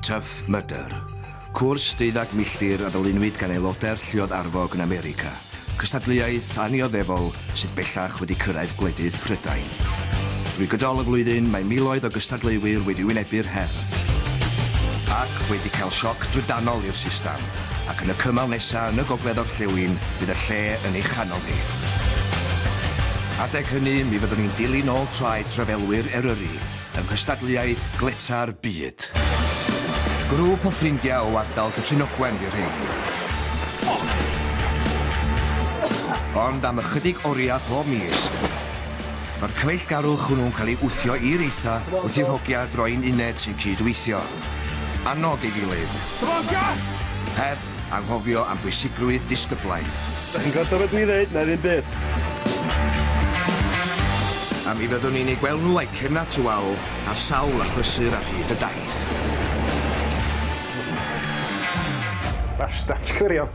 Tough Mudder, cwrs deuddag milltir a ddylunwyd gan aelodau'r Lluoedd Arfog yn America, cystadleuaeth annioddefol sydd bellach wedi cyrraedd gwledydd Prydain. Drwy gydol y flwyddyn mae miloedd o gystadleuwyr wedi wynebu'r her ac wedi cael sioc drydanol i'r system, ac yn y cymal nesaf yn y gogledd-orllewin bydd y lle yn ei chanol ni. Adeg hynny mi fyddwn ni'n dilyn ôl traed rhyfelwyr Eryri, yng nghystadleuaeth Gletâ'r Byd. Grŵp o ffrindiau o ardal Dyffryn Ogwen fu rhein. Ond am ychydig oriau pob mis, mae'r cyfeillgarwch hwnnw'n cael ei wthio i'r eitha wrth i'r hogia droi'n uned sy'n cyd-weithio. Annog ei gilydd. Heb anghofio am bwysigrwydd disgyblaeth. Dach chi'n gwrando beth dwi'n ddeud? Na ddim byd. A mi fyddwn ni'n eu gweld nhw a'u cernad tywal ar sawl achlysur ar hyd y daith. Basta, ti'n gwirion.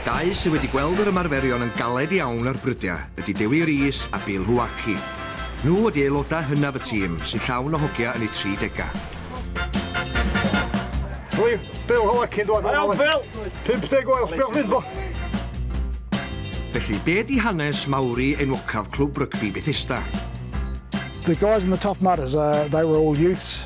Dau sydd wedi gweld yr ymarferion yn galed iawn ar brydiau ydy Dewi Rees a Bill Huaki. Nhw ydy aelodau hynaf y tîm, sy'n llawn o hogia yn eu 30au. Rwyf Bill Huaki'n dod yn ôl yn 50 oed, sbiwch fydd bo! Felly, be di hanes Mawri enwocaf Clwb Rygbi Bethesda? The guys in the Tough Mudders, uh, they were all youths.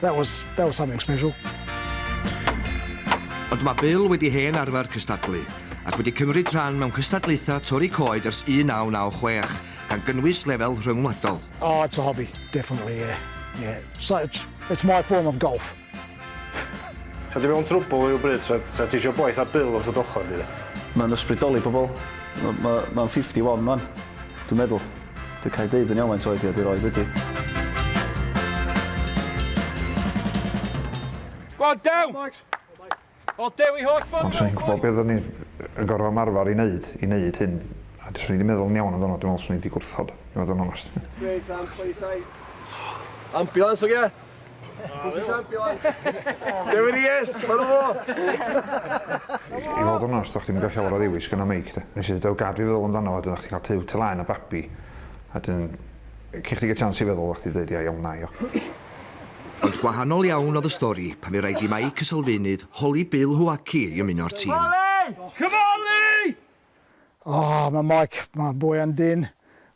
That was, that was something special. Ond mae Bill wedi hen arfer cystadlu, ac wedi cymryd rhan mewn cystadlaethau torri coed ers 1996, gan gynnwys lefel rhyngwladol. Oh, it's a hobby, definitely, yeah. yeah. So it's, it's my form of golf. Sa ti mewn trwbl i'w bryd, sa, sa ti eisiau boeth a Bill wrth y dochor, di? Mae'n ysbrydoli pobl. Mae'n ma, ma 51 fan, dwi'n meddwl. Dwi cael deud yn iawn faint oed fi a dwi roed wedi. Go on, Dew! O, Dew i holl ffordd! Ond swn i'n gwybod beth o'n i'n gorfod ymarfer i wneud, i wneud hyn. A swn i wedi meddwl yn iawn amdano, dwi'n meddwl swn i wedi gwrthod, i fod yn onest. Straight and please, I... Ambulance, ogia? Pwy sy'n siampio wan? Dewi Rees! Helo fo! I fod yn onast, do'ch chdi'm yn cael llawer o ddewis gan y meic de. Nes i ddeud o gad fi feddwl amdano fo wedyn o'ch chdi'n cael tŷ tŷ laen a babi a wedyn cyn chdi gael chance i feddwl o'ch chdi 'di deud ia iawn na i o. Ond gwahanol iawn oedd y stori pan fu raid i Mike y Sylfaenydd holi Bill Huaki i ymuno'r tîm. Cymale! Cymale! O, mae Mike, mae boi yn dyn,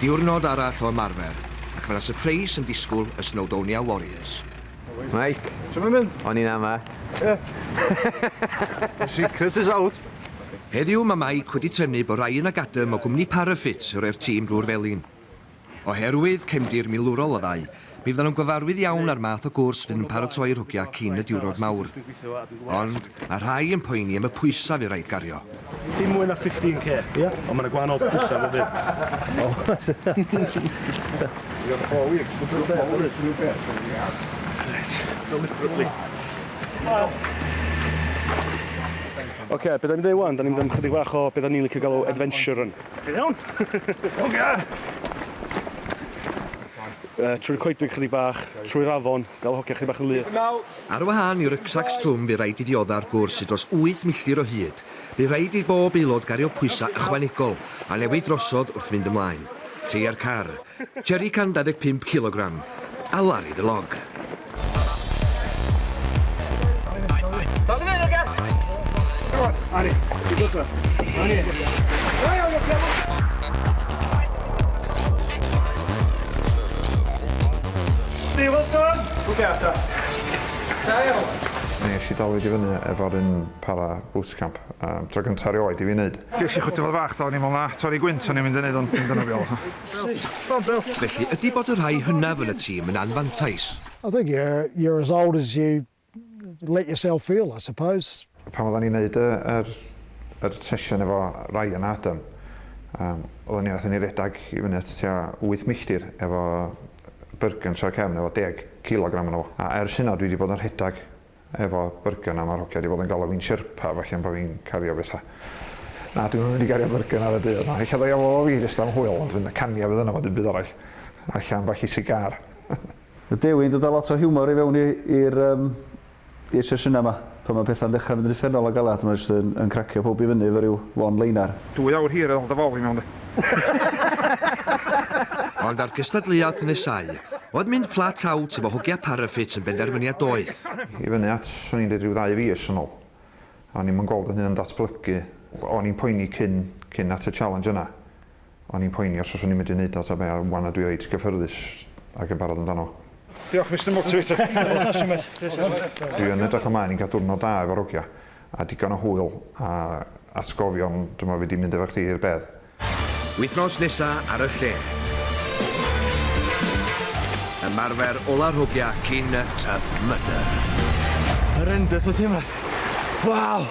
Diwrnod arall o ymarfer ac mae 'na sypreis yn disgwl y Snowdonia Warriors. Mike. Shwt mae'n mynd? O'n i'n ama. The secret is out. Heddiw mae Mike wedi tynnu bod Ryan ac Adam o gwmni Parafit yn rhoi'r tîm drwy'r felin. Oherwydd cefndir milwrol y ddau, Mi fyddan nhw'n gyfarwydd iawn â'r math o gwrs fydd yn paratoi rhwgiau cyn y diwrnod mawr. Ond mae rhai yn poeni am y pwysau fydd rhaid gario. Dim mwy na 15k, ie? Yeah? Ond mae yna gwahanol pwysau bob Oce, beth da ni'n mynd i wneud wan? Da ni'n mynd am chydig bach o beth da ni'n licio galw adventure run. Ti'n iawn? Ogia! Uh, trwy'r coedwig chydig bach, trwy'r afon, gael hogia chydig bach yn lyd. Ar wahân i rycsacs trwm bu rhaid i dioddau'r gwrs i dros 8 milltir o hyd. Bu rhaid i bob aelod gario pwysau ychwanegol a newid drosodd wrth fynd ymlaen. Teia'r car, Jerry 125 cilogram, a Larry the Log. Nesh i dal i fyny efo'r un para bootcamp, tro gynta' erioed i fi neud. Gesh i chwythu fo fach do, o'n i'n me'wl na torri gwynt o'n i'n mynd i neud ond dim dyna be' o'dd o. Felly ydi bod y rhai hynaf yn y tîm yn anfantais? I think you're you're as old as you let yourself feel I suppose. Pan oddan ni'n neud y yr yr sesiwn efo Ryan a Adam yym oddan ni nathon ni redag i fyny at tua wyth milltir efo byrgyns ar y cefn efo deg cilogram arno fo a ers hynna dwi 'di bod yn rhedag efo byrgyr a ma'r hogia di bod yn galw fi'n sherpa felly am bo fi'n cario betha. Na dwi'm yn mynd i gario byrgyn ar y dydd na ella ddo ia fo fi jyst am hwyl ond fydd caniad fydd yna fo dim byd arall a ella ambell i sigar. Ma Dewi'n dod a lot o hiwmor i fewn i i'r yym i'r sesiyna ma pan ma petha'n dechra mynd yn uffernol o galad mae jyst yn yn cracio powb i fyny efo ryw one liner. Dwy awr hir ar ol dy fol i mewn de. Ond ar gystadleuaeth nesau, oedd mynd flat out efo hogia Parafit yn benderfyniad doeth. I fyny at, swn i'n deud rhyw ddau fis yn ôl, o'n i'm yn gweld fy hun yn datblygu. O'n i'n poeni cyn, cyn at y challenge yna, o'n i'n poeni os fyswn i'n mynd i wneud o ta be, a 'wan dwi reit gyffyrddus ac yn barod amdano. Diolch Mister Motivator. Dwi yn edrych ymlaen i'n cael diwrnod da efo'r hogia, A digon o hwyl a atgofion dyma fi di mynd efo chdi i'r bedd. Wythnos nesa ar y lle. Ymarfer ola'r hogia cyn y Tough Mudder. Horrendous o teimlad. Waw!